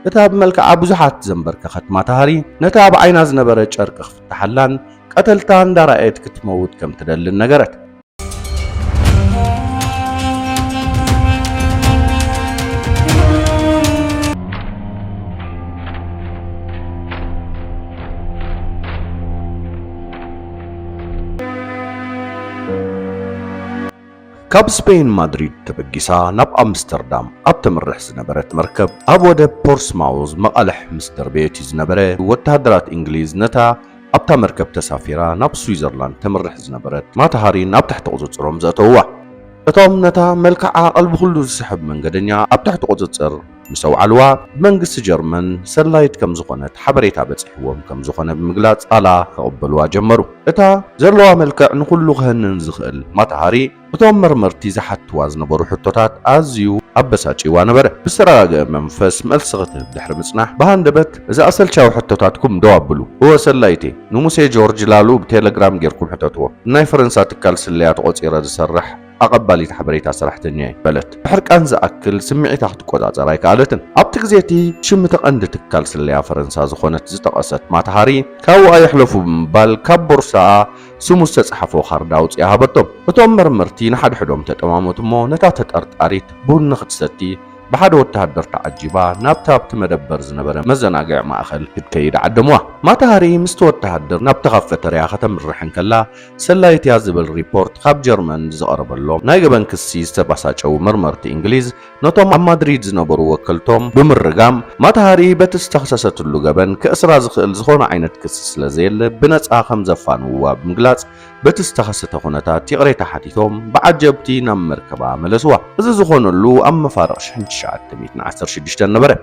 እታ ብመልክዓ ብዙሓት ዘንበርከኸት ማታሃሪ ነቲ ኣብ ዓይና ዝነበረ ጨርቂ ክፍትሓላን ቀተልታ እንዳረኣየት ክትመውት ከም ትደልን ነገረት። ካብ ስፔን ማድሪድ ተበጊሳ ናብ ኣምስተርዳም ኣብ ተምርሕ ዝነበረት መርከብ ኣብ ወደብ ፖርስማውዝ መቓልሕ ምስ ደርበየት እዩ ዝነበረ ወተሃደራት እንግሊዝ ነታ ኣብታ መርከብ ተሳፊራ ናብ ስዊዘርላንድ ተምርሕ ዝነበረት ማታሃሪ ናብ ትሕቲ ቁፅፅሮም ዘእተውዋ እቶም ነታ መልክዓ ቀልቢ ኩሉ ዝስሕብ መንገደኛ ኣብ ትሕቲ ቁፅፅር ምስ ኣውዓልዋ ብመንግስቲ ጀርመን ሰላዪት ከም ዝኾነት ሓበሬታ በጺሕዎም ከም ዝኾነ ብምግላጽ ጻላ ክቕበልዋ ጀመሩ። እታ ዘለዋ መልክዕ ንኹሉ ክሀንን ዝኽእል ማታሃሪ እቶም መርመርቲ ዝሓትትዋ ዝነበሩ ሕቶታት ኣዝዩ ኣበሳጭይዋ ነበረ። ብዝተረጋግአ መንፈስ መልሲ ክትህብ ድሕሪ ምጽናሕ ብሃንደበት እዚ ኣሰልቻዊ ሕቶታትኩም ደው ኣብሉ። እወ ሰላዪተይ፣ ንሙሴ ጆርጅ ላሉ ብቴለግራም ጌርኩም ሕተትዎ። ንናይ ፈረንሳ ትካል ስለያ ተቖጺረ ዝሰርሕ፣ ኣቐባሊት ሓበሬታ ሰራሕተኛ'የ በለት። ድሕሪ ቃንዝ ዝኣክል ስምዒታ ክትቆጻጸር ኣይከኣለትን። ኣብቲ ግዜ እቲ ሽም እቲ ቀንዲ ትካል ስለያ ፈረንሳ ዝኾነት ዝጠቐሰት ማታ ሃሪ፣ ካብኡ ኣይሕለፉ ብምባል ካብ ቦርሳኣ ስሙ ዝተጻሕፎ ካርድ ኣውጺኣ ሃበቶም። እቶም መርመርቲ ንሓድሕዶም ተጠማመቱ እሞ ነታ ተጠርጣሪት ቡን ንኽትሰቲ ብሓደ ወተሃደር ተዓጂባ ናብቲ ኣብቲ መደበር ዝነበረ መዘናግዒ ማእከል ክትከይድ ዓደምዋ። ማታ ሃሪ ምስቲ ወተሃደር ናብቲ ካፈተርያ ከተምርሕ እንከላ ሰላዪት'ያ ዝብል ሪፖርት ካብ ጀርመን ብዝቐረበሎም ናይ ገበን ክሲ ዝተባሳጨዉ መርመርቲ እንግሊዝ ነቶም ኣብ ማድሪድ ዝነበሩ ወከልቶም ብምርጋም ማታሃሪ በቲ ዝተኽሰሰትሉ ገበን ከእስራ ዝኽእል ዝኾነ ዓይነት ክሲ ስለዘየለ ብነጻ ከምዘፋንዉዋ ብምግላጽ በቲ ዝተኸሰተ ኩነታት ይቕሬታ ሓቲቶም ብዓጀብቲ ናብ መርከባ መለስዋ። እዚ ዝኾነሉ ኣብ መፋርቕ ሽሕን ትሽዓተ ሚእትን ዓሰርተ ሽዱሽተን ነበረ።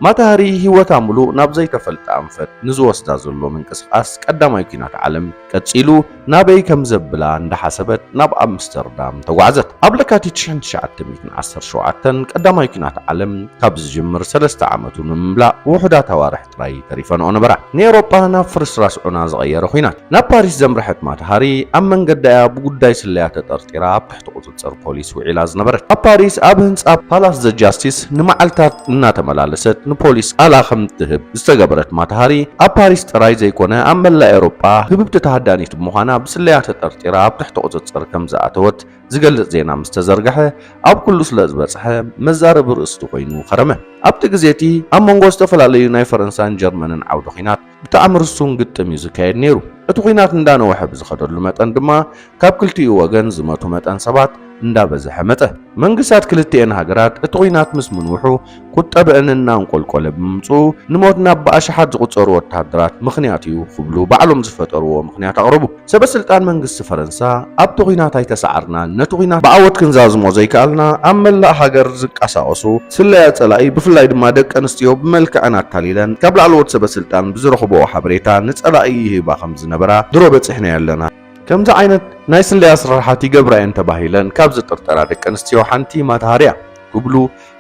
ማታ ሃሪ ህይወታ ምሉእ ናብ ዘይተፈልጠ ኣንፈት ንዝወስዳ ዘሎ ምንቅስቓስ ቀዳማይ ኲናት ዓለም ቀጺሉ ናበይ ከም ዘብላ እንዳሓሰበት ናብ ኣምስተርዳም ተጓዕዘት። ኣብ ለካቲት ሽሕን ትሽዓተ ሚእትን ዓሰርተ ሸውዓተን ቀዳማይ ኲናት ዓለም ካብ ዝጅምር ሰለስተ ዓመቱ ንምምላእ ውሑዳት ኣዋርሕ ጥራይ ተሪፈንኦ ነበራ። ንኤውሮጳ ናብ ፍርስራስ ዑና ዝቐየረ ኲናት። ናብ ፓሪስ ዘምርሐት ማታ ሃሪ ኣብ መንገዳ'ያ ብጉዳይ ስለያ ተጠርጢራ ኣብ ትሕቲ ቁጽጽር ፖሊስ ውዒላ ዝነበረት። ኣብ ፓሪስ ኣብ ህንጻ ፓላስ ዘ ጃስቲስ ንመዓልታት እናተመላለሰት ንፖሊስ ቃላ ከም እትህብ ዝተገበረት ማታሃሪ፣ ኣብ ፓሪስ ጥራይ ዘይኮነ ኣብ መላእ ኤውሮጳ ህብብቲ ተሃዳኒት ብምዃና ብስለያ ተጠርጢራ ኣብ ትሕቲ ቁጽጽር ከም ዝኣተወት ዝገልጽ ዜና ምስ ተዘርግሐ ኣብ ኩሉ ስለ ዝበጽሐ መዛረቢ ርእስቲ ኮይኑ ከረመ። ኣብቲ ግዜ እቲ ኣብ መንጎ ዝተፈላለዩ ናይ ፈረንሳን ጀርመንን ዓውደ ኲናት ብጣዕሚ ርሱን ግጥም እዩ ዝካየድ ነይሩ። እቲ ኹናት እንዳነወሐ ብዝኸደሉ መጠን ድማ ካብ ክልቲኡ ወገን ዝመቱ መጠን ሰባት እንዳበዘሐ መፀ። መንግስታት ክልቲኤን ሃገራት እቲ ኹናት ምስ ምንውሑ ቁጠበእን እናንቆልቆለ ብምምፅኡ ንሞት ናብ ብኣሽሓት ዝቑፀሩ ወታሃደራት ምኽንያት እዩ ኽብሉ ባዕሎም ዝፈጠርዎ ምኽንያት ኣቕረቡ። ሰበስልጣን መንግስቲ ፈረንሳ ኣብቲ ኹናት ኣይተሳዓርናን፣ ነቲ ኹናት ብዓወት ክንዛዝሞ ዘይከኣልና ኣብ መላእ ሃገር ዝንቀሳቐሱ ስለያ ጸላኢ ብፍላይ ድማ ደቂ ኣንስትዮ ብመልክዐን ኣታሊለን ካብ ላዕለዎት ሰበስልጣን ብዝረኽብኦ ሓበሬታ ንጸላኢ ይህባ ከምዝነበራ ድሮ በጺሕናዮ ኣለና። ከምዚ ዓይነት ናይ ስለያ ስርሓት ይገብራ እየን ተባሂለን ካብ ዝጥርጠራ ደቂ ኣንስትዮ ሓንቲ ማታ ሃርያ ክብሉ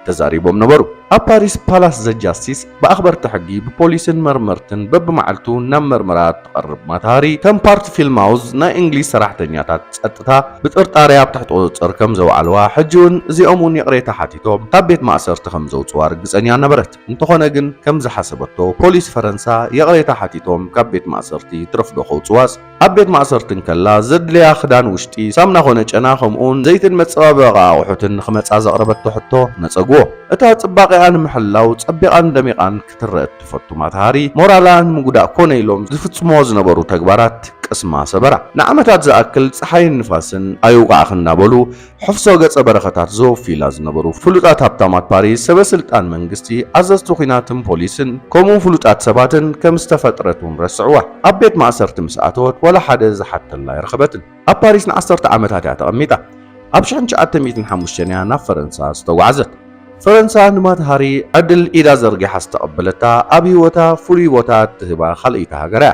ተዛሪቦም ነበሩ። ኣብ ፓሪስ ፓላስ ዘ ጃስቲስ ብኣኽበርቲ ሕጊ፣ ብፖሊስን መርመርትን በብመዓልቱ ናብ መርመራ እትቐርብ ማታሃሪ፣ ከም ፓርቲ ፊልማውዝ ናይ እንግሊዝ ሰራሕተኛታት ጸጥታ ብጥርጣረ ኣብ ትሕቲ ቁጽጽር ከም ዘውዓልዋ፣ ሕጂ'ውን እዚኦም'ውን ይቕሬታ ሓቲቶም ካብ ቤት ማእሰርቲ ከም ዘውጽዋ ርግጸኛ ነበረት። እንተኾነ ግን ከም ዝሓሰበቶ ፖሊስ ፈረንሳ ይቕሬታ ሓቲቶም ካብ ቤት ማእሰርቲ ትረፍዶ ከውጽዋስ፣ ኣብ ቤት ማእሰርቲ እንከላ ዘድልያ ክዳን ውሽጢ፣ ሳምና ኮነ ጨና ከምኡውን ዘይትን መጸባበቒ ኣቑሑትን ንኽመጻ ዘቕረበቶ ሕቶ ነጸግዎ። እታ ጽባቄኣ ንምሕላው ጸቢቓን ደሚቓን ክትረእ እትፈቱ ማታሃሪ፣ ሞራላ ንምጉዳእ ኮነ ኢሎም ዝፍጽምዎ ዝነበሩ ተግባራት ቅስማ ሰበራ። ንዓመታት ዝኣክል ጸሓይን ንፋስን ኣይውቓዕኪ እናበሉ ሕፍሶ ገጸ በረኸታት ዘወፍዩላ ዝነበሩ ፍሉጣት ሃብታማት ፓሪስ፣ ሰበ ስልጣን መንግስቲ፣ ኣዘዝቲ ኲናትን ፖሊስን ከምኡ ፍሉጣት ሰባትን ከም ዝተፈጥረት እውን ረስዕዋ። ኣብ ቤት ማእሰርቲ ምስ ኣተወት ዋላ ሓደ ዝሓተላ ኣይረኸበትን። ኣብ ፓሪስ ንዓሰርተ ዓመታት እያ ተቐሚጣ። ኣብ ሽሕን ትሽዓተ ሚእትን ሓሙሽተን እያ ናብ ፈረንሳ ዝተጓዕዘት። ፈረንሳ ንማት ሃሪ ዕድል ኢዳ ዘርጊሓ ዝተቐበለታ ኣብ ህይወታ ፍሉይ ቦታ እትህባ ካልኣይቲ ሃገር እያ።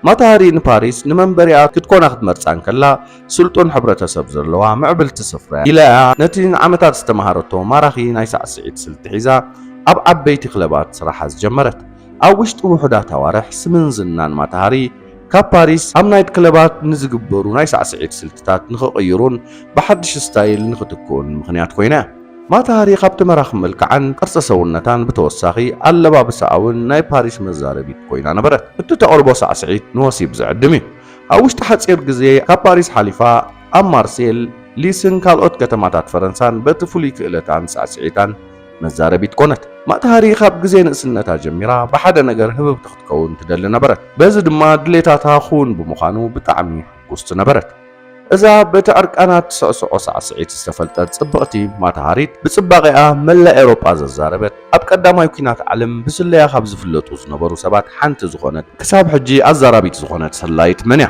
ማታሃሪ ንፓሪስ ንመንበሪኣ ክትኮና ክትመርጻ እንከላ፣ ስልጡን ሕብረተሰብ ዘለዋ ምዕብልቲ ስፍራ'ያ ኢላ'ያ ነቲ ንዓመታት ዝተመሃረቶ ማራኺ ናይ ሳዕስዒት ስልቲ ሒዛ ኣብ ዓበይቲ ክለባት ስራሓ ዝጀመረት። ኣብ ውሽጢ ውሑዳት ኣዋርሕ ስምን ዝናን ማታሃሪ ካብ ፓሪስ ኣብ ናይት ክለባት ንዝግበሩ ናይ ሳዕስዒት ስልትታት ንኽቕይሩን ብሓድሽ ስታይል ንኽትክኡን ምኽንያት ኮይና'ያ። ማታ ሃሪ ካብቲ መራኺ መልክዓን ቅርጺ ሰውነታን ብተወሳኺ ኣለባብሳኣ'ውን ናይ ፓሪስ መዛረቢት ኮይና ነበረት። እቲ ተቕርቦ ሳዕስዒት ንወሲብ ዝዕድም እዩ። ኣብ ውሽጢ ሓጺር ግዜ ካብ ፓሪስ ሓሊፋ ኣብ ማርሴል፣ ሊስን ካልኦት ከተማታት ፈረንሳን በቲ ፍሉይ ክእለታን ሳዕስዒታን መዛረቢት ኮነት። ማታ ሃሪ ካብ ግዜ ንእስነታ ጀሚራ ብሓደ ነገር ህብብቲ ክትከውን ትደሊ ነበረት። በዚ ድማ ድሌታታ ክውን ብምዃኑ ብጣዕሚ ሕጉስቲ ነበረት። እዛ በቲ ዕርቃና ትስዕስዖ ሳዕስዒት ዝተፈልጠት ጽብቕቲ ማታሃሪት፣ ብጽባቐኣ መላእ ኤውሮጳ ዘዛረበት፣ ኣብ ቀዳማይ ኲናት ዓለም ብስለያ ካብ ዝፍለጡ ዝነበሩ ሰባት ሓንቲ ዝኾነት፣ ክሳብ ሕጂ ኣዛራቢት ዝኾነት ሰላዪት መን እያ?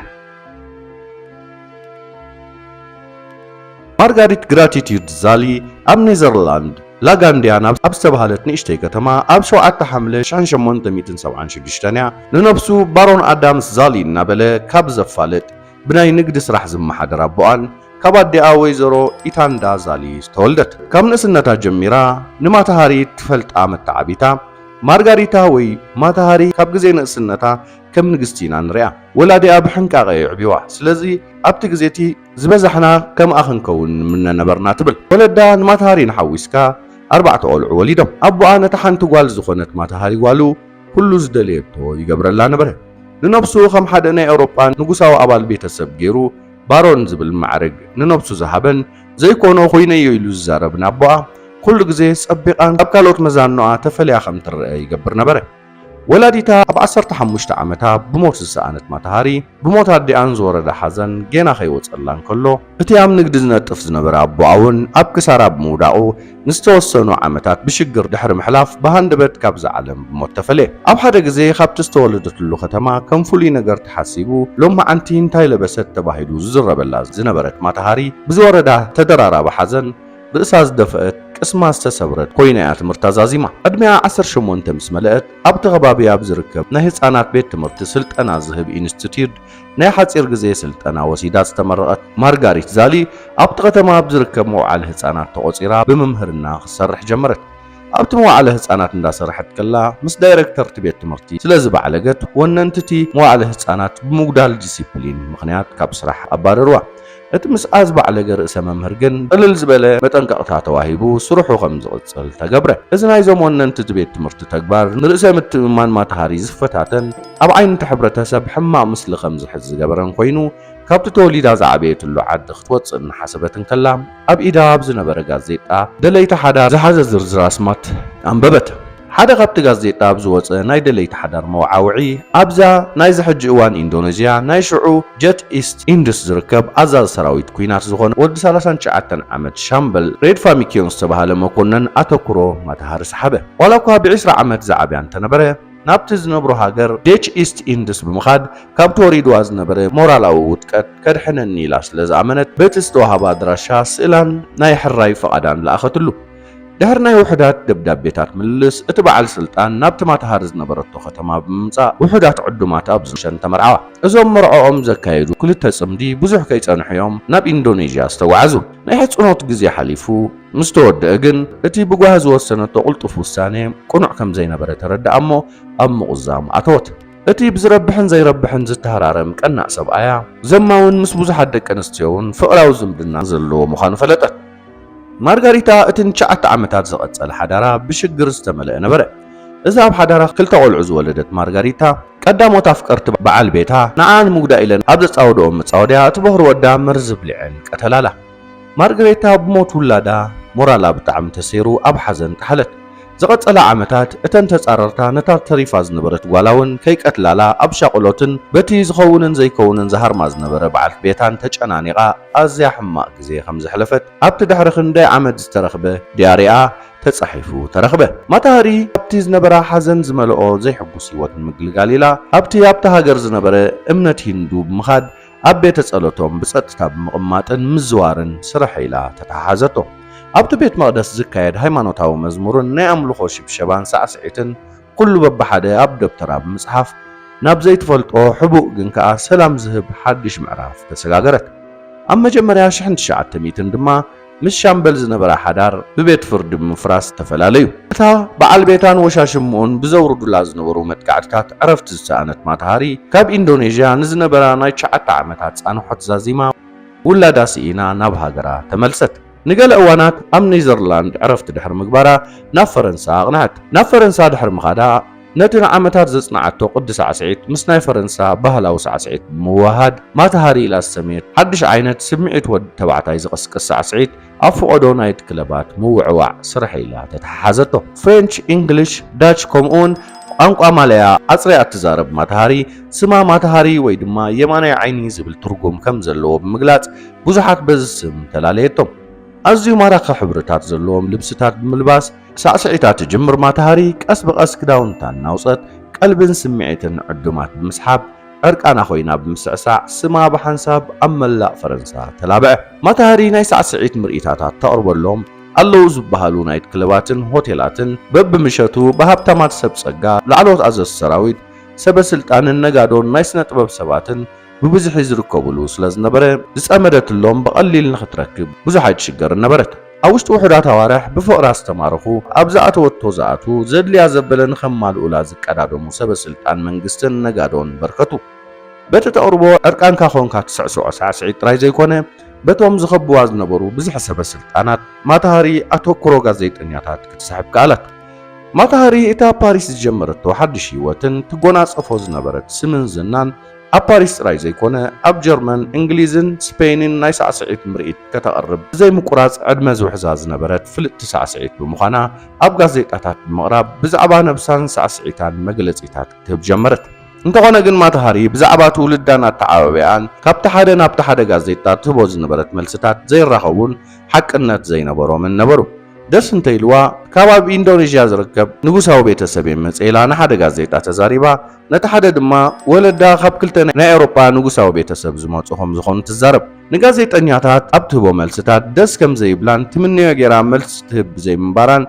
ማርጋሪት ግራቲትዩድ ዛሊ ኣብ ኔዘርላንድ ላጋንድያን ኣብ ዝተባህለት ንእሽተይ ከተማ ኣብ ሸውዓተ ሓምለ ሽሕን ሸሞንተ ሚእትን ሰብዓን ሽዱሽተን እያ ንነብሱ ባሮን ኣዳምስ ዛሊ እናበለ ካብ ዘፋልጥ ብናይ ንግዲ ስራሕ ዝመሓደር ኣቦኣን ካብ ኣዲኣ ወይዘሮ ኢታንዳ ዛሊ ዝተወልደት። ካብ ንእስነታ ጀሚራ ንማታሃሪ ትፈልጣ መተዓቢታ ማርጋሪታ ወይ ማታሃሪ ካብ ግዜ ንእስነታ ከም ንግስቲ ኢና ንሪኣ። ወላዲኣ ብሕንቃቐ የዕብዩዋ፣ ስለዚ ኣብቲ ግዜ'ቲ ዝበዛሕና ከምኣ ክንከውን ንምነ ነበርና ትብል። ወለዳ ንማታሃሪን ሓዊስካ ኣርባዕተ ቆልዑ ወሊዶም። ኣቦኣ ነታ ሓንቲ ጓል ዝኾነት ማታሃሪ ጓሉ፣ ኩሉ ዝደለየቶ ይገብረላ ነበረ። ንነብሱ ከም ሓደ ናይ ኤውሮጳ ንጉሳዊ ኣባል ቤተሰብ ገይሩ ባሮን ዝብል ማዕርግ ንነብሱ ዝሃበን ዘይኮኖ ኮይነዮ ኢሉ ዝዛረብን ኣቦኣ ኩሉ ግዜ ጸቢቓን ካብ ካልኦት መዛኖኣ ተፈልያ ከም ትረኣ ይገብር ነበረ። ወላዲታ ኣብ ዓሰርተ ሓሙሽተ ዓመታ ብሞት ዝሰኣነት ማታ ሃሪ፣ ብሞት ኣዲኣን ዝወረዳ ሓዘን ጌና ከይወጸላ እንከሎ፣ እቲ ኣብ ንግዲ ዝነጥፍ ዝነበረ ኣቦኣ'ውን ኣብ ክሳራ ብምውዳቑ፣ ንዝተወሰኑ ዓመታት ብሽግር ድሕሪ ምሕላፍ ብሃንደበት ካብዛ ዓለም ብሞት ተፈልየ። ኣብ ሓደ ግዜ ካብቲ ዝተወለደትሉ ከተማ ከም ፍሉይ ነገር ተሓሲቡ ሎማዓንቲ እንታይ ለበሰት ተባሂሉ ዝዝረበላ ዝነበረት ማታሃሪ ብዝወረዳ ተደራራቢ ሓዘን፣ ርእሳ ዝደፍኣት፣ ቅስማ ዝተሰብረት ኮይና'ያ ትምህርታ ዛዚማ። ዕድሜኣ ዓሰርተ ሸሞንተ ምስ መለኣት፣ ኣብ'ቲ ከባቢ ኣብ ዝርከብ ናይ ህጻናት ቤት ትምህርቲ ስልጠና ዝህብ ኢንስቲትዩድ ናይ ሓጺር ግዜ ስልጠና ወሲዳ ዝተመረቐት ማርጋሪት ዛሊ፣ ኣብ'ቲ ከተማ ኣብ ዝርከብ መውዓሊ ህጻናት ተቖጺራ ብምምህርና ክትሰርሕ ጀመረት። ኣብ'ቲ መዋዕለ ህጻናት እንዳሰረሐት ከላ ምስ ዳይረክተር'ቲ ቤት ትምህርቲ ስለ ዝበዕለገት፣ ወነንቲ'ቲ መዋዕለ ህጻናት ብምጉዳል ዲሲፕሊን ምኽንያት ካብ ስራሕ ኣባረርዋ። እቲ ምስኣ ዝበዕለገ ርእሰ መምህር ግን ቅልል ዝበለ መጠንቀቕታ ተዋሂቡ ስርሑ ከም ዝቕጽል ተገብረ። እዚ ናይዞም ወነንቲ እቲ ቤት ትምህርቲ ተግባር ንርእሰ ምትእምማን ማታሃሪ ዝፈታተን ኣብ ዓይኒ እቲ ሕብረተሰብ ሕማቕ ምስሊ ከም ዝሕዝ ዝገበረን ኮይኑ ካብቲ ተወሊዳ ዝዓበየትሉ ዓዲ ክትወጽእ እናሓሰበት እንከላ ኣብ ኢዳ ኣብ ዝነበረ ጋዜጣ ደለይቲ ሓዳር ዝሓዘ ዝርዝር ኣስማት ኣንበበት። ሓደ ካብቲ ጋዜጣ ኣብ ዝወጸ ናይ ደለይቲ ሓዳር መወዓውዒ፣ ኣብዛ ናይዚ ሕጂ እዋን ኢንዶነዥያ፣ ናይ ሽዑ ጀት ኢስት ኢንድስ ዝርከብ ኣዛዚ ሰራዊት ኲናት ዝዀነ ወዲ ሰላሳን ትሽዓተን ዓመት ሻምበል ሬድፋሚክዮን ዝተባህለ መኮነን ኣተኵሮ ማታሃሪ ሰሓበ። ዋላ'ኳ ብዒስራ ዓመት ዝዓብያ እንተነበረ፣ ናብቲ ዝነብሮ ሃገር ዴች ኢስት ኢንድስ ብምኻድ ካብቲ ወሪዱዋ ዝነበረ ሞራላዊ ውድቀት ከድሕነኒ ኢላ ስለ ዝኣመነት በቲ ዝተወሃባ ኣድራሻ ስእላን ናይ ሕራይ ፍቓዳን ለኣኸትሉ። ድሕሪ ናይ ውሑዳት ደብዳቤታት ምልልስ፣ እቲ በዓል ስልጣን ናብቲ ማታሃር ዝነበረቶ ከተማ ብምምጻእ ውሑዳት ዕዱማት ኣብ ዝሸን ተመርዓዋ። እዞም መርዕኦም ዘካየዱ ክልተ ጽምዲ ብዙሕ ከይጸንሑ እዮም ናብ ኢንዶነዥያ ዝተጓዓዙ። ናይ ሕጽኖት ግዜ ሓሊፉ ምስ ተወድኣ ግን እቲ ብጓሂ ዝወሰነቶ ቅልጡፍ ውሳነ ቅኑዕ ከም ዘይነበረ ተረድኣ እሞ ኣብ ምቑዛም ኣተወት። እቲ ብዝረብሕን ዘይረብሕን ዝተሃራረም ቀናእ ሰብኣያ፣ ዘማውን ምስ ብዙሓት ደቂ ኣንስትዮውን ፍቕራዊ ዝምድና ዘለዎ ምዃኑ ፈለጠት። ማርጋሪታ እቲ ንትሽዓተ ዓመታት ዝቐጸለ ሓዳራ ብሽግር ዝተመልአ ነበረ። እዛ ኣብ ሓዳራ ክልተ ቆልዑ ዝወለደት ማርጋሪታ፣ ቀዳሞት ኣፍቀርቲ በዓል ቤታ ንዓኣ ንምጉዳእ ኢለን ኣብ ዘጻወድኦም መጻወድያ እቲ በዅሪ ወዳ መርዚ ኣብሊዐን ቀተላላ። ማርጋሪታ ብሞት ውላዳ ሞራላ ብጣዕሚ ተሰይሩ ኣብ ሓዘን ጠሓለት። ዝቐጸላ ዓመታት እተን ተጻረርታ ነታ ተሪፋ ዝነበረት ጓላ ውን ከይቀትላላ ኣብ ሻቕሎትን በቲ ዝኸውንን ዘይከውንን ዝሃርማ ዝነበረ በዓልቲ ቤታን ተጨናኒቓ ኣዝያ ሕማቕ ግዜ ከም ዘሕለፈት ኣብቲ ድሕሪ ክንደይ ዓመት ዝተረኽበ ድያሪኣ ተጻሒፉ ተረኽበ። ማታ ሃሪ ካብቲ ዝነበራ ሓዘን ዝመልኦ ዘይሕጉስ ህይወት ንምግልጋል ኢላ ኣብቲ ኣብታ ሃገር ዝነበረ እምነት ሂንዱ ብምኻድ ኣብ ቤተ ጸሎቶም ብጸጥታ ብምቕማጥን ምዝዋርን ስርሐይ ኢላ ተተሓሓዘቶ። ኣብቲ ቤት መቕደስ ዝካየድ ሃይማኖታዊ መዝሙርን ናይ ኣምልኾ ሽብሸባን ሳዕስዒትን ኩሉ በብሓደ ኣብ ደብተራ ብምጽሓፍ ናብ ዘይትፈልጦ ሕቡእ ግን ከኣ ሰላም ዝህብ ሓድሽ ምዕራፍ ተሰጋገረት። ኣብ መጀመርያ ሽሕን ትሽዓተ ሚእትን ድማ ምስ ሻምበል ዝነበራ ሓዳር ብቤት ፍርዲ ብምፍራስ ተፈላለዩ። እታ በዓል ቤታን ወሻሽምኡን ብዘውርዱላ ዝነበሩ መጥቃዕትታት ዕረፍቲ ዝሰኣነት ማታሃሪ፣ ካብ ኢንዶኔዥያ ንዝነበራ ናይ ትሽዓተ ዓመታት ጻንሖት ዛዚማ ውላዳ ስኢና ናብ ሃገራ ተመልሰት። ንገለ እዋናት ኣብ ኔዘርላንድ ዕረፍቲ ድሕሪ ምግባራ ናብ ፈረንሳ ኣቕንዐት። ናብ ፈረንሳ ድሕሪ ምኻዳ፣ ነቲ ንዓመታት ዘጽንዓቶ ቅዲ ሳዕስዒት ምስ ናይ ፈረንሳ ባህላዊ ሳዕስዒት ብምውህሃድ ማታሃሪ ኢላ ዝሰመየቶ ሓድሽ ዓይነት ስምዒት ወዲ ተባዕታይ ዝቕስቅስ ሳዕስዒት ኣብ ፍቖዶ ናይት ክለባት ምውዕዋዕ ስርሐይ ኢላ ተተሓሓዘቶ። ፍሬንች፣ ኢንግሊሽ፣ ዳች ከምኡ'ውን ቋንቋ ማላያ ኣጽርያ እትዛረብ ማታሃሪ፣ ስማ ማታሃሪ ወይ ድማ የማናይ ዓይኒ ዝብል ትርጉም ከም ዘለዎ ብምግላጽ ብዙሓት በዚ ስም ተላለየቶም። ኣዝዩ ማራኺ ሕብርታት ዘለዎም ልብስታት ብምልባስ፣ ሳዕስዒታ ትጅምር ማታሃሪ ቀስ ብቐስ ክዳውንታ እናውፀት ቀልብን ስምዒትን ንዕዱማት ብምስሓብ ዕርቃና ኮይና ብምስዕሳዕ ስማ ብሓንሳብ ኣብ መላእ ፈረንሳ ተላብዐ። ማታሃሪ ናይ ሳዕስዒት ምርኢታታት ተቕርበሎም ኣለዉ ዝበሃሉ ናይት ክለባትን ሆቴላትን በብምሸቱ ብሃብታማት ሰብ ፀጋ፣ ላዕለዎት ኣዘዝቲ ሰራዊት፣ ሰበ ስልጣንን ነጋዶን ናይ ስነ ጥበብ ሰባትን ብብዝሒ ዝርከቡሉ ስለዝነበረ ዝፀመደትሎም ብቐሊል ንኽትረክብ ብዙሕ ኣይትሽገርን ነበረት። ኣብ ውሽጢ ውሑዳት ኣዋርሕ ብፍቕራ ዝተማረኹ፣ ኣብ ዝኣተወቶ ዝኣትዉ፣ ዘድልያ ዘበለ ንኸማልኡላ ዝቀዳደሙ ሰበ ስልጣን መንግስትን ነጋዶን በርከቱ። በቲ ተቕርቦ ዕርቃንካ ኾንካ ትስዕስዖ ሳዕስዒት ጥራይ ዘይኮነ፣ በቶም ዝኸብቡዋ ዝነበሩ ብዝሒ ሰበ ስልጣናት ማታ ሃሪ ኣተኩሮ ጋዜጠኛታት ክትስሕብ ከኣለት። ማታ ሃሪ እቲ ኣብ ፓሪስ ዝጀመረቶ ሓድሽ ህይወትን ትጎናጸፎ ዝነበረት ስምን ዝናን፣ ኣብ ፓሪስ ጥራይ ዘይኮነ ኣብ ጀርመን፣ እንግሊዝን ስፐይንን ናይ ሳዕስዒት ምርኢት ከተቕርብ ብዘይ ምቁራጽ ዕድመ ዝውሕዛ ዝነበረት ፍልጥቲ ሳዕስዒት ብምዃና ኣብ ጋዜጣታት ብምቕራብ ብዛዕባ ነብሳን ሳዕስዒታን መግለጺታት ክትህብ ጀመረት። እንተኾነ ግን ማታ ሃሪ ብዛዕባ ትውልዳን ኣተዓባብያኣን ካብቲ ሓደ ናብቲ ሓደ ጋዜጣ ትህቦ ዝነበረት መልስታት ዘይራኸቡን ሓቅነት ዘይነበሮምን ነበሩ። ደስ እንተኢልዋ ካብ ኣብ ኢንዶነዥያ ዝርከብ ንጉሳዊ ቤተሰብ'የ መጺኤ ኢላ ንሓደ ጋዜጣ ተዛሪባ፣ ነቲ ሓደ ድማ ወለዳ ካብ ክልተ ናይ ኣውሮጳ ንጉሳዊ ቤተሰብ ዝመጹ ከም ዝኾኑ ትዛረብ። ንጋዜጠኛታት ኣብ ትህቦ መልስታት ደስ ከም ዘይብላን ትምነዮ ጌራ መልሲ ትህብ ብዘይምንባራን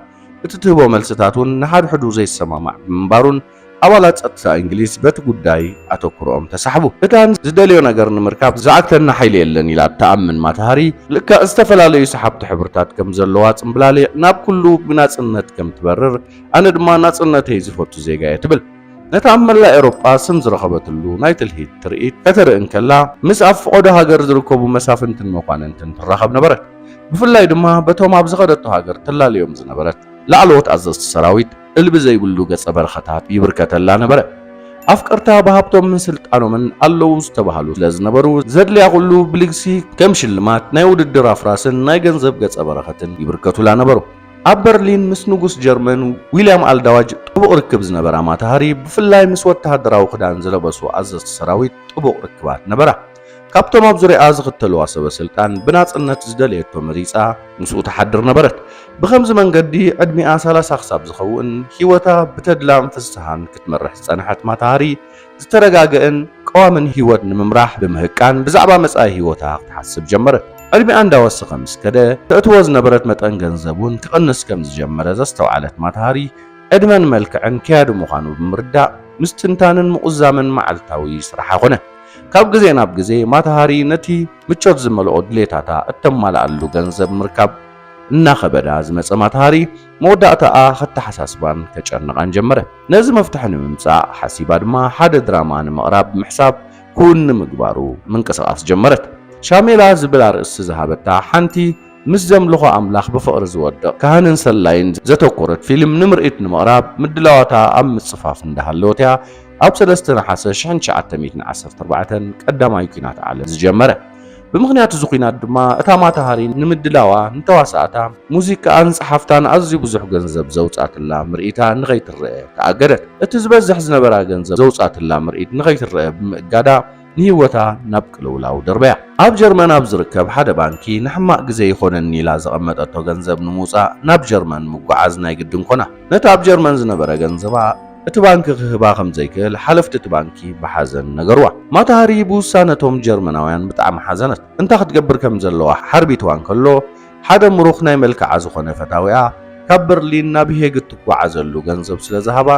እቲ ትህቦ መልስታት እውን ንሓድሕዱ ዘይሰማማዕ ብምንባሩን ኣባላት ጸጥታ እንግሊዝ በቲ ጉዳይ ኣተኩሮኦም ተሳሕቡ። እታ ዝደልዮ ነገር ንምርካብ ዝዓግተና ሓይሊ የለን ኢላ እትኣምን ማታሃሪ፣ ልክዕ ዝተፈላለዩ ሰሓብቲ ሕብርታት ከም ዘለዋ ጽምብላሊዕ ናብ ኩሉ ብናጽነት ከም ትበርር፣ ኣነ ድማ ናጽነተይ ዝፈቱ ዜጋ እየ ትብል። ነቲ ኣብ መላእ ኤውሮጳ ስም ዝረኸበትሉ ናይ ትልሂት ትርኢት ከተርኢ እንከላ፣ ምስ ኣብ ፍቖዶ ሃገር ዝርከቡ መሳፍንትን መኳንንትን ትራኸብ ነበረት። ብፍላይ ድማ በቶም ኣብ ዝኸደቶ ሃገር ትላልዮም ዝነበረት ላዕለዎት ኣዘዝቲ ሰራዊት እልቢ ዘይብሉ ገጸ በረኸታት ይብርከተላ ነበረ። ኣፍቀርታ ብሃብቶምን ስልጣኖምን ኣለዉ ዝተባህሉ ስለ ዝነበሩ፣ ዘድልያ ኩሉ ብልግሲ ከም ሽልማት ናይ ውድድር ኣፍራስን ናይ ገንዘብ ገጸ በረኸትን ይብርከቱላ ነበሩ። ኣብ በርሊን ምስ ንጉስ ጀርመን ዊልያም ኣልዳዋጅ ጥቡቕ ርክብ ዝነበራ ማታ ሃሪ ብፍላይ ምስ ወተሃደራዊ ክዳን ዝለበሱ ኣዘዝቲ ሰራዊት ጥቡቕ ርክባት ነበራ። ካብቶም ኣብ ዙርያኣ ዝኽተልዋ ሰበ ስልጣን ብናጽነት ዝደለየቶ መሪጻ ምስኡ ትሓድር ነበረት። ብኸምዚ መንገዲ ዕድሚኣ ሰላሳ ክሳብ ዝኸውን ህይወታ ብተድላን ፍስሃን ክትመርሕ ዝጸንሐት ማታ ሃሪ ዝተረጋገእን ቀዋምን ህይወት ንምምራሕ ብምህቃን ብዛዕባ መጻኢ ህይወታ ክትሓስብ ጀመረት። ዕድሜኣ እንዳወሰኸ ምስ ከደ፣ ተእትዎ ዝነበረት መጠን ገንዘብ እውን ክቕንስ ከም ዝጀመረ ዘስተውዓለት ማታሃሪ፣ ዕድመን መልክዕን ከያዲ ምዃኑ ብምርዳእ ምስትንታንን ምቑዛምን መዓልታዊ ስራሓ ኮነ። ካብ ግዜ ናብ ግዜ ማታሃሪ ነቲ ምቾት ዝመልኦ ድሌታታ እተማልኣሉ ገንዘብ ምርካብ እናኸበዳ ዝመጸ ማታሃሪ፣ መወዳእታኣ ከተሓሳስባን ከጨንቓን ጀመረ። ነዚ መፍትሒ ንምምጻእ ሓሲባ ድማ ሓደ ድራማ ንምቕራብ ምሕሳብ ክዉን ንምግባሩ ምንቅስቓስ ጀመረት። ሻሜላ ዝብል ኣርእስቲ ዝሃበታ ሓንቲ ምስ ዘምልኾ ኣምላኽ ብፍቕሪ ዝወድቕ ካህንን ሰላይን ዘተኮረት ፊልም ንምርኢት ንምቕራብ ምድላዋታ ኣብ ምጽፋፍ እንዳሃለወት'ያ ኣብ ሰለስተ ነሓሰ ሽሕን ትሽዓተ ሚእትን ዓሰርተ ኣርባዕተን ቀዳማይ ኲናት ዓለም ዝጀመረ። ብምኽንያት እዚ ኲናት ድማ እታ ማታሃሪ ንምድላዋ ንተዋሳእታ ሙዚቃኣን ጸሓፍታን ኣዝዩ ብዙሕ ገንዘብ ዘውጽኣትላ ምርኢታ ንኸይትረኣ ተኣገደት። እቲ ዝበዝሕ ዝነበራ ገንዘብ ዘውጽኣትላ ምርኢት ንኸይትረኣ ብምእጋዳ ንህይወታ ናብ ቅልውላው ደርበያ። ኣብ ጀርመን ኣብ ዝርከብ ሓደ ባንኪ ንሕማቕ ግዜ ይኾነኒ ኢላ ዘቐመጠቶ ገንዘብ ንምውጻእ ናብ ጀርመን ምጉዓዝ ናይ ግድን ኮና። ነቲ ኣብ ጀርመን ዝነበረ ገንዘባ፣ እቲ ባንኪ ክህባ ከም ዘይክእል ሓለፍቲ እቲ ባንኪ ብሓዘን ነገርዋ። ማታ ሃሪ ብውሳነ እቶም ጀርመናውያን ብጣዕሚ ሓዘነት። እንታይ ክትገብር ከም ዘለዋ ሓርቢትዋ እንከሎ፣ ሓደ ምሩኽ ናይ መልክዓ ዝኾነ ፈታዊኣ ካብ በርሊን ናብ ሄግ እትጓዓዘሉ ገንዘብ ስለ ዝሃባ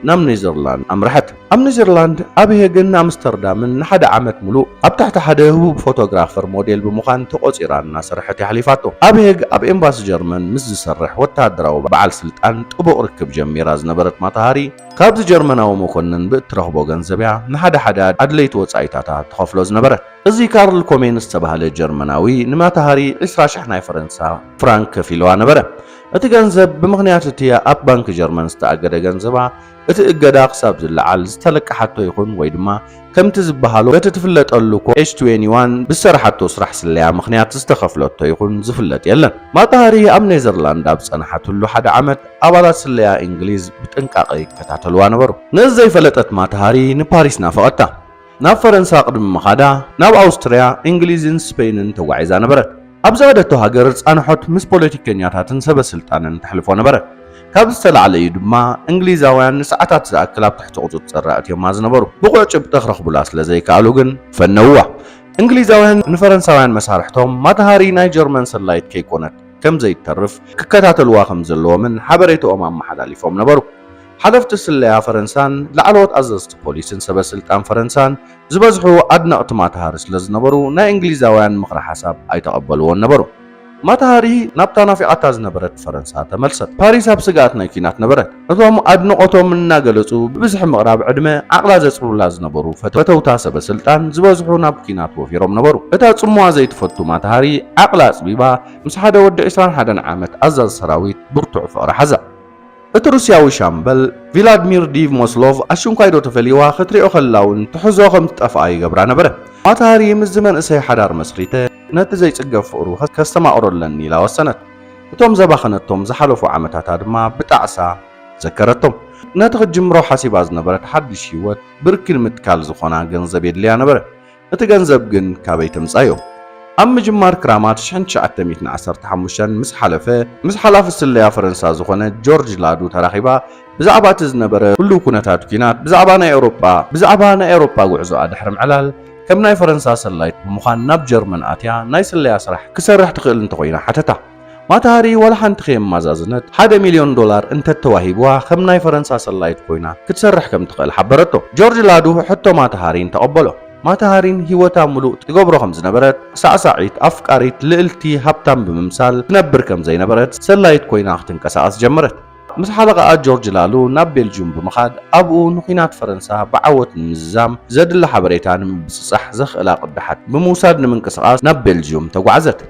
ናብ ኔዘርላንድ ኣምርሐት። ኣብ ኔዘርላንድ ኣብ ሄግን ኣምስተርዳምን ንሓደ ዓመት ምሉእ ኣብ ትሕቲ ሓደ ህቡብ ፎቶግራፈር ሞዴል ብምዃን ተቖጺራ እናሰርሐት እያ ኣሕሊፋቶ። ኣብ ሄግ ኣብ ኤምባሲ ጀርመን ምስ ዝሰርሕ ወተሃደራዊ በዓል ስልጣን ጥቡቕ ርክብ ጀሚራ ዝነበረት ማታሃሪ፣ ካብዚ ጀርመናዊ መኮንን ብእትረኽቦ ገንዘብ'ያ ንሓደ ሓደ ኣድለይቲ ወጻኢታታ ትኸፍሎ ዝነበረት። እዚ ካርል ኮሜን ዝተባህለ ጀርመናዊ ንማታሃሪ ዕስራ ሽሕ ናይ ፈረንሳ ፍራንክ ከፊሉዋ ነበረ። እቲ ገንዘብ ብምኽንያት እቲ ኣብ ባንክ ጀርመን ዝተኣገደ ገንዘባ፣ እቲ እገዳ ክሳብ ዝለዓል ዝተለቀሓቶ ይኹን ወይ ድማ፣ ከምቲ ዝበሃሎ በቲ ትፍለጠሉ ኮ ኤች ትዌኒ ዋን ብዝሰራሓቶ ስራሕ ስለያ ምኽንያት ዝተኸፍለቶ ይኹን ዝፍለጥ የለን። ማታ ሃሪ ኣብ ኔዘርላንድ ኣብ ዝጸናሓትሉ ሓደ ዓመት ኣባላት ስለያ እንግሊዝ ብጥንቃቐ ይከታተልዋ ነበሩ። ነዚ ዘይፈለጠት ማታ ሃሪ ንፓሪስ ናፈቐታ። ናብ ፈረንሳ ቅድሚ ምኻዳ ናብ ኣውስትርያ፣ እንግሊዝን ስፐይንን ተጓዒዛ ነበረት። ኣብ ዝኸደቶ ሃገር ጻንሖት ምስ ፖለቲከኛታትን ሰበስልጣንን ተሕልፎ ነበረት። ካብዚ ዝተላዕለ እዩ ድማ እንግሊዛውያን ንሰዓታት ዝኣክል ኣብ ትሕቲ ቁጽጽር ኣእትዮማ ዝነበሩ። ብቑዕ ጭብጢ ክረኽቡላ ስለ ዘይከኣሉ ግን ፈነውዋ። እንግሊዛውያን ንፈረንሳውያን መሳርሕቶም ማታሃሪ ናይ ጀርመን ሰላዪት ከይኮነት ከም ዘይተርፍ ክከታተልዋ ከም ዘለዎምን ሓበሬታኦም ኣመሓላሊፎም ነበሩ። ሓለፍቲ ስለያ ፈረንሳን ላዕለዎት ኣዘዝቲ ፖሊስን ሰበስልጣን ፈረንሳን ዝበዝሑ ኣድነቕቲ ማታሃሪ ስለዝነበሩ ናይ እንግሊዛውያን ምኽረ ሓሳብ ኣይተቐበልዎን ነበሩ። ማታሃሪ ናብታ ናፊቓታ ዝነበረት ፈረንሳ ተመልሰት። ፓሪስ ኣብ ስግኣት ናይ ኲናት ነበረት። ነቶም ኣድንቖቶም እናገለጹ ብብዝሒ ምቕራብ ዕድመ ዓቕላ ዘጽሩላ ዝነበሩ ፈተውታ ሰበስልጣን ዝበዝሑ ናብ ኲናት ወፊሮም ነበሩ። እታ ጽምዋ ዘይትፈቱ ማታሃሪ ዓቕላ ኣጽቢባ ምስ ሓደ ወዲ ዕስራን ሓደን ዓመት ኣዛዚ ሰራዊት ብርቱዕ ፍቕሪ ሓዛ። እቲ ሩስያዊ ሻምበል፣ ቪላድሚር ዲቭ ሞስሎቭ ኣሽንኳይዶ ተፈልዩዋ ክትሪኦ ከላ'ውን ትሕዞ ከም ትጠፍኣ ይገብራ ነበረ። ማታ ሃሪ ምስዚ መንእሰይ ሓዳር መስሪተ ነቲ ዘይጽገብ ፍቕሩ ከስተማቕሮ ኣለኒ ኢላ ወሰነት። እቶም ዘባኸነቶም ዝሓለፉ ዓመታታ ድማ ብጣዕሳ ዘከረቶም። ነቲ ክትጅምሮ ሓሲባ ዝነበረት ሓድሽ ህይወት ብርኪ ንምትካል ዝኾና ገንዘብ የድልያ ነበረ። እቲ ገንዘብ ግን ካበይ ተምጻዮ? ኣብ ምጅማር ክራማት ሽሕን ትሽዓተ ሚእትን ዓሰርተ ሓሙሽተን ምስ ሓለፈ፣ ምስ ሓላፊ ስለያ ፈረንሳ ዝኾነ ጆርጅ ላዱ ተራኺባ ብዛዕባ እቲ ዝነበረ ህሉው ኩነታት ኩናት፣ ብዛዕባ ናይ ኤውሮጳ፣ ብዛዕባ ናይ ኤውሮጳ ጉዕዞኣ ድሕሪ ምዕላል፣ ከም ናይ ፈረንሳ ሰላይት ብምዃን ናብ ጀርመን ኣትያ ናይ ስለያ ስራሕ ክሰርሕ ትኽእል እንተኾይና ሓተታ። ማታሃሪ ዋላ ሓንቲ ከየመዛዘነት ሓደ ሚልዮን ዶላር እንተተዋሂብዋ ከም ናይ ፈረንሳ ሰላዪት ኮይና ክትሰርሕ ከም ትኽእል ሓበረቶ። ጆርጅ ላዱ ሕቶ ማታሃሪን ተቐበሎ። ማታሃሪን ህይወታ ምሉእ ትገብሮ ከም ዝነበረት፣ ሳዕሳዒት፣ ኣፍቃሪት፣ ልእልቲ፣ ሃብታም ብምምሳል ትነብር ከም ዘይነበረት፣ ሰላዪት ኮይና ክትንቀሳቐስ ጀመረት። ምስ ሓለቓኣ ጆርጅ ላሉ ናብ ቤልጅዩም ብምኻድ ኣብኡ ንኲናት ፈረንሳ ብዓወት ንምዝዛም ዘድሊ ሓበሬታ ንምብጽጻሕ ዘኽእላ ቅዳሓት ብምውሳድ ንምንቅስቓስ ናብ ቤልጅዩም ተጓዕዘት።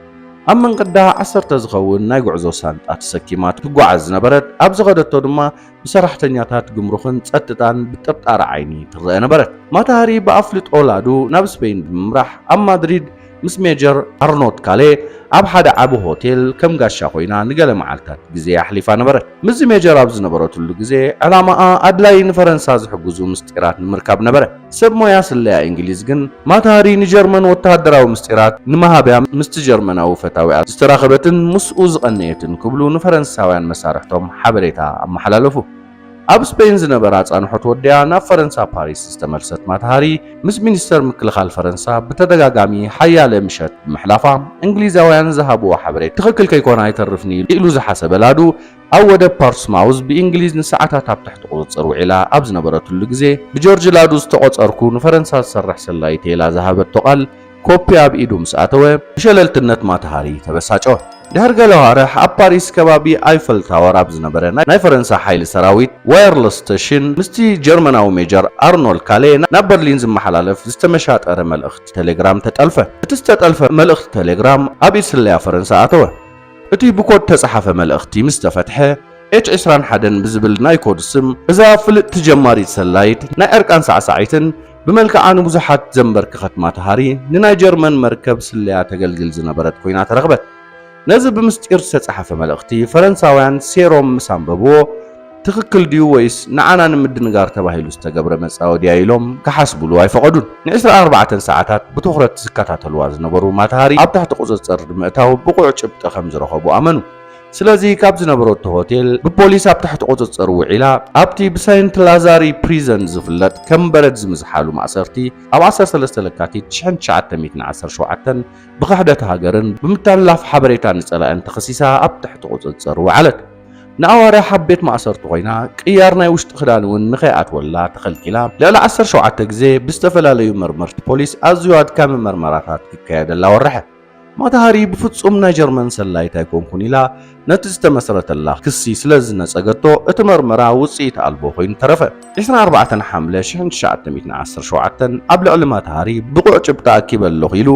ኣብ መንገዳ ዓሰርተ ዝኸውን ናይ ጉዕዞ ሳንጣ ተሰኪማ ትጓዓዝ ዝነበረት፣ ኣብ ዝኸደቶ ድማ ብሰራሕተኛታት ግምሩኽን ጸጥታን ብጥርጣረ ዓይኒ ትረኣ ነበረት። ማታሃሪ ብኣፍልጦ ላዱ ናብ ስፔይን ብምምራሕ ኣብ ማድሪድ ምስ ሜጀር ኣርኖት ካሌ ኣብ ሓደ ዓቢ ሆቴል ከም ጋሻ ኮይና ንገለ መዓልታት ግዜ ኣሕሊፋ ነበረት። ምስዚ ሜጀር ኣብ ዝነበረትሉ ግዜ ዕላማኣ ኣድላዪ ንፈረንሳ ዝሕግዙ ምስጢራት ንምርካብ ነበረ። ሰብ ሞያ ስለያ ኢንግሊዝ ግን ማታሃሪ ንጀርመን ወተሃደራዊ ምስጢራት ንመሃብያ ምስቲ ጀርመናዊ ፈታዊኣ ዝተራኸበትን ምስኡ ዝቐነየትን ክብሉ ንፈረንሳውያን መሳርሕቶም ሓበሬታ ኣመሓላለፉ። ኣብ ስፐይን ዝነበራ ኣጻንሖት ወዲኣ ናብ ፈረንሳ ፓሪስ ዝተመልሰት ማታሃሪ ምስ ሚኒስተር ምክልኻል ፈረንሳ ብተደጋጋሚ ሓያለ ምሸት ብምሕላፋ እንግሊዛውያን ዝሃብዎ ሓበሬታ ትኽክል ከይኮነ ኣይተርፍን ኢሉ ዝሓሰበ ላዱ ኣብ ወደብ ፓርትስማውዝ ብእንግሊዝ ንሰዓታት ኣብ ትሕቲ ቁጽጽር ውዒላ ኣብ ዝነበረትሉ ግዜ፣ ብጆርጅ ላዱ ዝተቖጸርኩ ንፈረንሳ ዝሰርሕ ሰላይ'የ ኢላ ዝሃበቶ ቃል ኮፒ ኣብ ኢዱ ምስ ኣተወ፣ ብሸለልትነት ማታ ሃሪ ተበሳጨወ። ድሕሪ ገለ ኣዋርሕ ኣብ ፓሪስ ከባቢ ኣይፈል ታወር ኣብ ዝነበረ ናይ ፈረንሳ ሓይሊ ሰራዊት፣ ዋየርለስ ስተሽን፣ ምስቲ ጀርመናዊ ሜጀር ኣርኖልድ ካሌ ናብ በርሊን ዝመሓላለፍ ዝተመሻጠረ መልእኽቲ ተሌግራም ተጠልፈ። እቲ ዝተጠልፈ መልእኽቲ ተሌግራም ኣብ ኢድ ስለያ ፈረንሳ ኣተወ። እቲ ብኮድ እተጻሓፈ መልእኽቲ ምስ ተፈትሐ፣ ኤች ዕስራን ሓደን ብዝብል ናይ ኮድ ስም እዛ ፍልጥቲ ጀማሪት ሰላዪት ናይ ዕርቃን ሳዕሳዒትን ብመልክዓ ንብዙሓት ዘምበርክኸት ማትሃሪ ንናይ ጀርመን መርከብ ስለያ ተገልግል ዝነበረት ኮይና ተረኽበት። ነዚ ብምስጢር ዝተጻሓፈ መልእኽቲ ፈረንሳውያን ሴሮም ምስ ኣንበብዎ፣ ትኽክል ድዩ ወይስ ንዓና ንምድንጋር ተባሂሉ ዝተገብረ መጻወድያ ኢሎም ክሓስቡሉ ኣይፈቐዱን። ንዕስራ ኣርባዕተ ሰዓታት ብትኹረት ዝከታተሉዋ ዝነበሩ ማታሃሪ ኣብ ትሕቲ ቁጽጽር ብምእታው ብቑዕ ጭብጢ ከም ዝረኸቡ ኣመኑ። ስለዚ ካብ ዝነበረቶ ሆቴል ብፖሊስ ኣብ ትሕቲ ቁጽጽር ውዒላ ኣብቲ ብሰይንት ላዛሪ ፕሪዘን ዝፍለጥ ከም በረድ ዝምዝሓሉ ማእሰርቲ ኣብ ዓሰርተ ሰለስተ ለካቲት ሽሕን ትሽዓተ ሚእትን ዓሰርተ ሸውዓተን ብኽሕደት ሃገርን ብምትሕልላፍ ሓበሬታ ንጸላእን ተኸሲሳ ኣብ ትሕቲ ቁጽጽር ወዓለት። ንኣዋርሕ ኣብ ቤት ማእሰርቲ ኮይና ቅያር ናይ ውሽጢ ክዳን እውን ንከይኣትወላ ተኸልኪላ ልዕሊ ዓሰርተ ሸውዓተ ግዜ ብዝተፈላለዩ መርመርቲ ፖሊስ ኣዝዩ ኣድካሚ መርመራታት ክካየደላ ወረሐ። ማታሃሪ ብፍጹም ናይ ጀርመን ሰላዪት ኣይኮንኩን ኢላ ነቲ ዝተመስረተላ ክሲ ስለ ዝነጸገቶ እቲ መርመራ ውጽኢት ኣልቦ ኮይኑ ተረፈ። ዕስራን ኣርባዕተን ሓምለ ሽሕን ትሽዓተ ሚእትን ዓሰርተ ሸውዓተን ኣብ ልዕሊ ማታሃሪ ብቑዕ ጭብጢ ኣኪበ ኣለኹ ኢሉ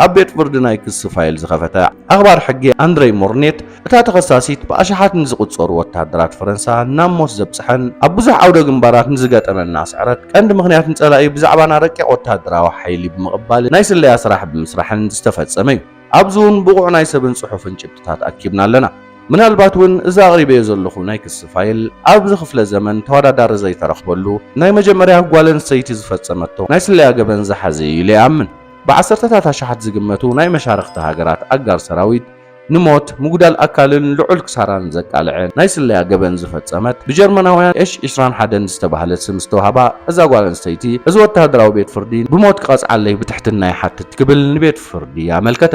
ኣብ ቤት ፍርዲ ናይ ክሲ ፋይል ዝኸፈተ ኣኽባር ሕጊ ኣንድረይ ሞርኔት እታ ተኸሳሲት ብኣሽሓት ንዝቑጸሩ ወተሃደራት ፈረንሳ ናብ ሞት ዘብጽሐን ኣብ ብዙሕ ዓውደ ግንባራት ንዝገጠመና ስዕረት ቀንዲ ምኽንያት ንጸላኢ ብዛዕባና ረቂቕ ወተሃደራዊ ሓይሊ ብምቕባልን ናይ ስለያ ስራሕ ብምስራሕን ዝተፈጸመ'ዩ። ኣብዚ'ውን ብቑዕ ናይ ሰብን ጽሑፍን ጭብጥታት ኣኪብና ኣለና። ምናልባት'ውን እዚ ኣቕሪበዮ ዘለኹ ናይ ክሲ ፋይል ኣብዚ ክፍለ ዘመን ተወዳዳሪ ዘይተረኽበሉ ናይ መጀመርያ ጓል ኣንስተይቲ ዝፈጸመቶ ናይ ስለያ ገበን ዝሓዘ'ዩ ኢለ ይኣምን። ብዓሰርተታት ኣሽሓት ዝግመቱ ናይ መሻርኽቲ ሃገራት ኣጋር ሰራዊት፣ ንሞት፣ ምጉዳል ኣካልን ልዑል ክሳራን ዘቃልዐ ናይ ስለያ ገበን ዝፈጸመት፣ ብጀርመናውያን ኤሽ ዕስራን ሓደን ዝተባህለ ስም ዝተውሃባ እዛ ጓል ኣንስተይቲ፣ እዚ ወተሃደራዊ ቤት ፍርዲ ብሞት ክቐጽዓለይ ብትሕትና ይሓትት ክብል ንቤት ፍርዲ ኣመልከተ።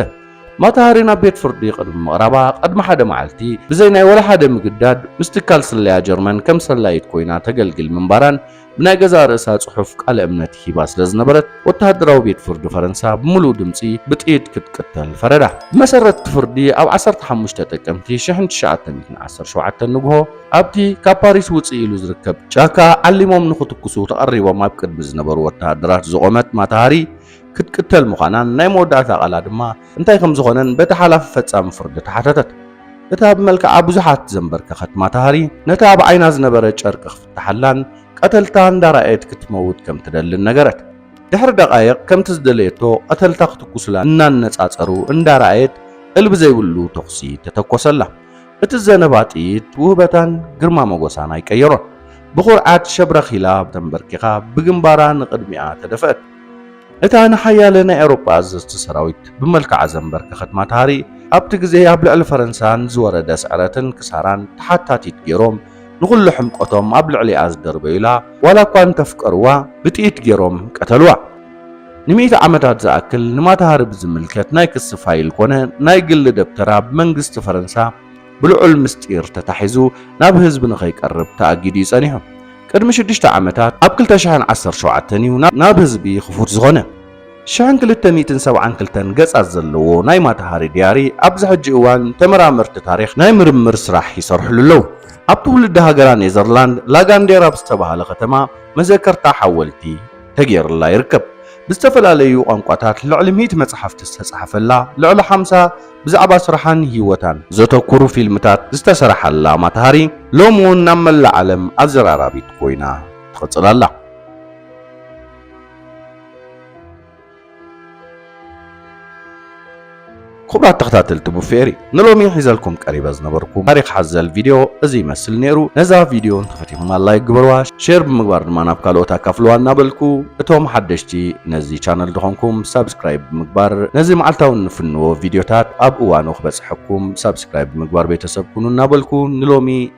ማታሃሪ ናብ ቤት ፍርዲ ቅድሚ ምቕራባ ቅድሚ ሓደ መዓልቲ ብዘይ ናይ ወላሓደ ምግዳድ ምስ ትካል ስለያ ጀርመን ከም ሰላዪት ኮይና ተገልግል ምንባራን ብናይ ገዛእ ርእሳ ጽሑፍ ቃለ እምነት ሂባ ስለ ዝነበረት፣ ወተሃደራዊ ቤት ፍርዲ ፈረንሳ ብምሉኡ ድምጺ ብጥይት ክትቅተል ፈረዳ። ብመሰረት እቲ ፍርዲ፣ ኣብ ዓሰርተ ሓሙሽተ ጥቅምቲ ሽሕን ትሽዓተ ሚእትን ዓሰርተ ሸውዓተ ንግሆ፣ ኣብቲ ካብ ፓሪስ ውጽእ ኢሉ ዝርከብ ጫካ ዓሊሞም ንኽትኩሱ ተቐሪቦም ኣብ ቅድሚ ዝነበሩ ወተሃደራት ዝቖመት ማታ ሃሪ ክትቅተል ምዃናን ናይ መወዳእታ ቃላ ድማ እንታይ ከም ዝኾነን በቲ ሓላፊ ፈጻሚ ፍርዲ ተሓተተት። እታ ብመልክዓ ብዙሓት ዘንበርከኸት ማታ ሃሪ ነቲ ኣብ ዓይና ዝነበረ ጨርቂ ተሓላን ቀተልታ እንዳረኣየት ክትመውት ከም ትደልን ነገረት። ድሕሪ ደቓይቕ ከምቲ ዝደለየቶ ቀተልታ ክትኩስላ እናነጻጸሩ እንዳረኣየት እልቢ ዘይብሉ ተኹሲ ተተኮሰላ። እቲ ዝዘነባ ጥይት ውህበታን ግርማ መጎሳን ኣይቀየሮን። ብኹርዓት ሸብረኽ ኢላ ተንበርኪኻ ብግንባራ ንቕድሚኣ ተደፍአት። እታ ንሓያለ ናይ ኤውሮጳ ኣዘዝቲ ሰራዊት ብመልክዓ ዘንበርከኸት ማታሃሪ ኣብቲ ግዜ ኣብ ልዕሊ ፈረንሳ ንዝወረደ ስዕረትን ክሳራን ተሓታቲት ገይሮም ንኹሉ ሕምቆቶም ኣብ ልዕሊኣ ዝደርበዩላ፣ ዋላ እኳ እንተፍቀርዋ ብጥይት ገይሮም ቀተልዋ። ንሚእቲ ዓመታት ዝኣክል ንማታሃሪ ብዝምልከት ናይ ክሲ ፋይል ኮነ ናይ ግሊ ደብተራ ብመንግስቲ ፈረንሳ ብልዑል ምስጢር ተታሒዙ ናብ ህዝቢ ንኸይቀርብ ተኣጊዱ እዩ ጸኒሑ። ቅድሚ ሽዱሽተ ዓመታት ኣብ ክልተ ሽሕን ዓሰርተ ሸውዓተን እዩ ናብ ህዝቢ ክፉት ዝኾነ። ሽሕን ክልተ ሚእትን ሰብዓን ክልተን ገጻት ዘለዎ ናይ ማታ ሃሪ ድያሪ ኣብዚ ሕጂ እዋን ተመራመርቲ ታሪኽ ናይ ምርምር ስራሕ ይሰርሕሉ ኣለዉ። ኣብ ትውልዲ ሃገራ ኔዘርላንድ ላጋንዴር ኣብ ዝተባህለ ከተማ መዘከርታ ሓወልቲ ተገይርላ ይርከብ። ብዝተፈላለዩ ቋንቋታት ልዕሊ ሚእቲ መጻሕፍቲ ዝተጻሕፈላ፣ ልዕሊ ሓምሳ ብዛዕባ ስራሓን ህይወታን ዘተኩሩ ፊልምታት ዝተሰርሓላ ማታ ሃሪ ሎሚ እውን ናብ መላእ ዓለም ኣዘራራቢት ኮይና ትቕጽል ኣላ። ክቡራት ተኸታተልቲ ቡፌሪ ንሎሚ ሒዘልኩም ቀሪበ ዝነበርኩ ታሪኽ ሓዘል ቪድዮ እዚ ይመስል ነይሩ። ነዛ ቪድዮ እንተፈቲኹማ ላይክ ግበርዋ፣ ሼር ብምግባር ድማ ናብ ካልኦት ኣካፍልዋ እናበልኩ እቶም ሓደሽቲ ነዚ ቻነል ዝኾንኩም ሳብስክራይብ ብምግባር ነዚ መዓልታዊ እንፍንዎ ቪድዮታት ኣብ እዋኑ ክበጽሐኩም ሳብስክራይብ ብምግባር ቤተሰብ ኩኑ እናበልኩ ንሎሚ